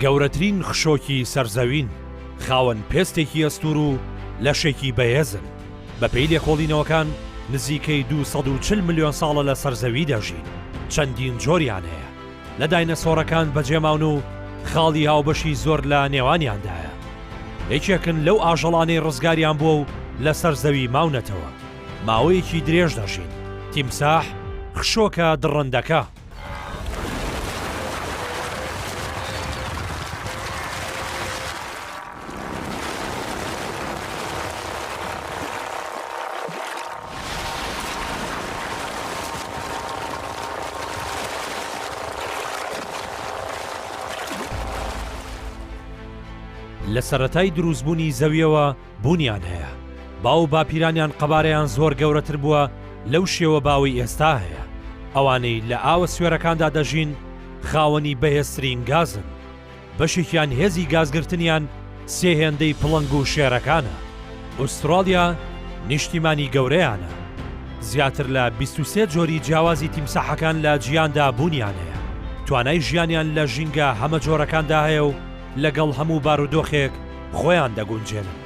گەورەترین خشۆکی سەر زەوین خاوەن پێستێکی ئەستور و لەشێکی بەهێزن بەپی لێکۆڵینەوەکان نزیکەی 240 ملیۆن ساڵە لە سەرزەوی دەژین چەندین جۆریان هەیە لە داینەسۆڕەکان بەجێماون و خاڵی هاوبەشی زۆر لە نێوانیاندایە. یەکێکن لەو ئاژەڵانەی ڕزگاریان بووە و لەسەر زەوی ماونەتەوە. ماوەیەکی درێژ دەژین. تیمساح، خشۆکە دڕندەکە. لە سەرەتای دروستبوونی زەویەوە بوونیان هەیە باو باپیرانیان قەبارەیان زۆر گەورەتر بووە لەو شێوە باوەی ئێستا هەیە ئەوانەی لە ئاوە سوێرەکاندا دەژین خاوەنی بەهێزترین گازن بەشێکیان هێزی گازگرتنیان سێ هێندەی پڵنگ و شێرەکانە. ئوستراڵیا نیشتیمانی گەورەیانە، زیاتر لە بیست و سێ جۆری جیاوازی تیمساحەکان لە جیهاندا بوونیان هەیە، توانای ژیانیان لە ژینگە هەمەجۆرەکاندا هەیە و لەگەڵ هەموو بارودۆخێک خۆیان دەگونجێنن.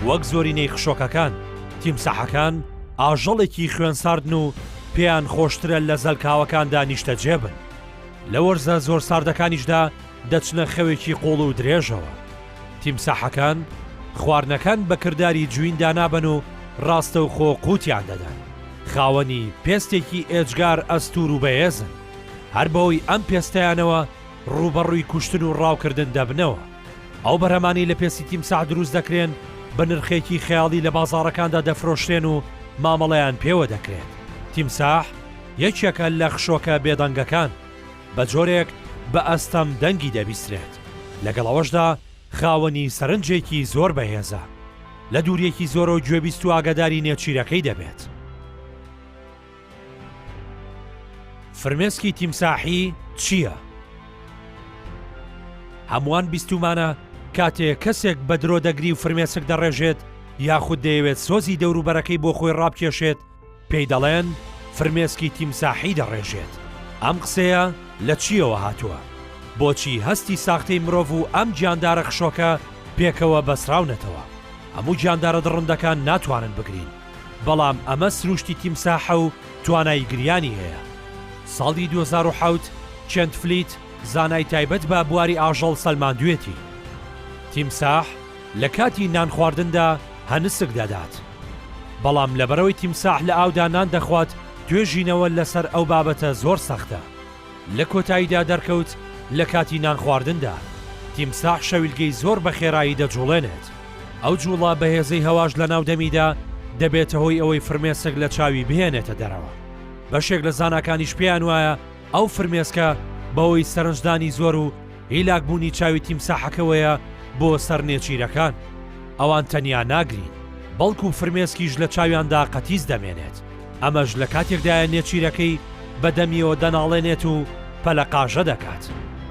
وەک زۆرینەی خشۆکەکان، تیمساحەکان ئاژەڵێکی خوێنساردن و پێیان خۆشترە لە زەلکاوەکاندا نیشتەجێ بن، لە وەرزە زۆر ساردەکانیشدا، دەچنە خەوێکی قوڵ و درێژەوە. تیمساحەکان خواردنەکان بە کرداری جوین دانابەن و ڕاستەوخۆ قووتیان دەدەن. خاوەنی پێستێکی ئێجگار ئەستوور و بەهێزن. هەر بەهۆی ئەم پێستەیانەوە ڕووبەڕووی کوشتن و ڕاوکردن دەبنەوە. ئەو بەرهەمانەی لە پێستی تیمساح دروست دەکرێن بە نرخێکی خەیاڵی لە بازاڕەکاندا دەفرۆشرێن و مامەڵەیان پێوە دەکرێت. تیمساح یەکێکە لە خشۆکە بێدەنگەکان. بە جۆرێک بە ئەستەم دەنگی دەبیسترێت، لەگەڵ ئەوەشدا خاوەنی سەرنجێکی زۆر بەهێزە، لە دووریەکی زۆرەوە گوێبیست و ئاگاداری نێچیرەکەی دەبێت. فرمێسکی تیمساحی چییە؟ هەمووان بیستومانە کاتێ کەسێک بە درۆ دەگری و فرمێسک دەڕێژێت یاخود دەیەوێت سۆزی دەوروبەرەکەی بۆ خۆی ڕابکێشێت، پێی دەڵێن فرمێسکی تیمساحی دەڕێژێت، ئەم قسەیە لە چییەوە هاتووە؟ بۆچی هەستی ساختەی مرۆڤ و ئەم گیاندارە خشۆکە پێکەوە بەسراونەتەوە؟ هەموو گیاندارە دڕندەکان ناتوانن بگرین، بەڵام ئەمە سرووشتی تیمساحە و توانای گریانی هەیە. ساڵی دوو هەزار و حەوت کێنت فلیت زانای تایبەت بە بواری ئاژەڵ سەلماندوێتی، تیمساح، لە کاتی نان خواردندا هەنسک دەدات. بەڵام لەبەرئەوەی تیمساح لە ئاودا نان دەخوات، توێژینەوە لەسەر ئەو بابەتە زۆر سەختە. لە کۆتاییدا دەرکەوت لە کاتی نان خواردندا، تیمساح شەویلگەی زۆر بە خێرایی دەجوڵێنێت. ئەو جوڵە بەهێزەی هەواش لەناو دەمیدا دەبێتە هۆی ئەوەی فرمێسک لە چاوی بهێنێتە دەرەوە. بەشێک لە زاناکانیش پێیان وایە ئەو فرمێسکە بەهۆی سەرنجدانی زۆر و هیلاک بوونی چاوی تیمساحەکەوەیە بۆ سەر نێچیرەکان. ئەوان تەنیا ناگرین، بەڵکو فرمێسکیش لە چاویاندا قەتیس دەمێنێت، ئەمەش لە کاتێکدایە نێچیرەکەی بە دەمیەوە دەناڵێنێت و پەلەقاژە دەکات،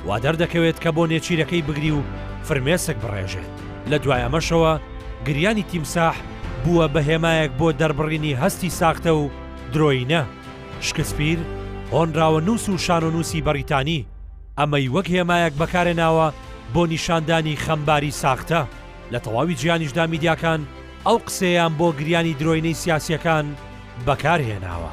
وا دەردەکەوێت کە بۆ نێچیرەکەی بگری و فرمێسک بڕێژێت، لە دوای ئەمەشەوە گریانی تیمساح بووە بە هێمایەک بۆ دەربڕینی هەستی ساختە و درۆیینە. شکسپیر، هۆنراوەنووس و شانۆنووسی بەریتانی. ئەمەی وەک هێمایەک بەکارهێناوە بۆ نیشاندانی خەمباری ساختە، لە تەواوی جیهانیشدا میدیاکان ئەو قسەیەیان بۆ گریانی درۆینەی سیاسییەکان بەکارهێناوە.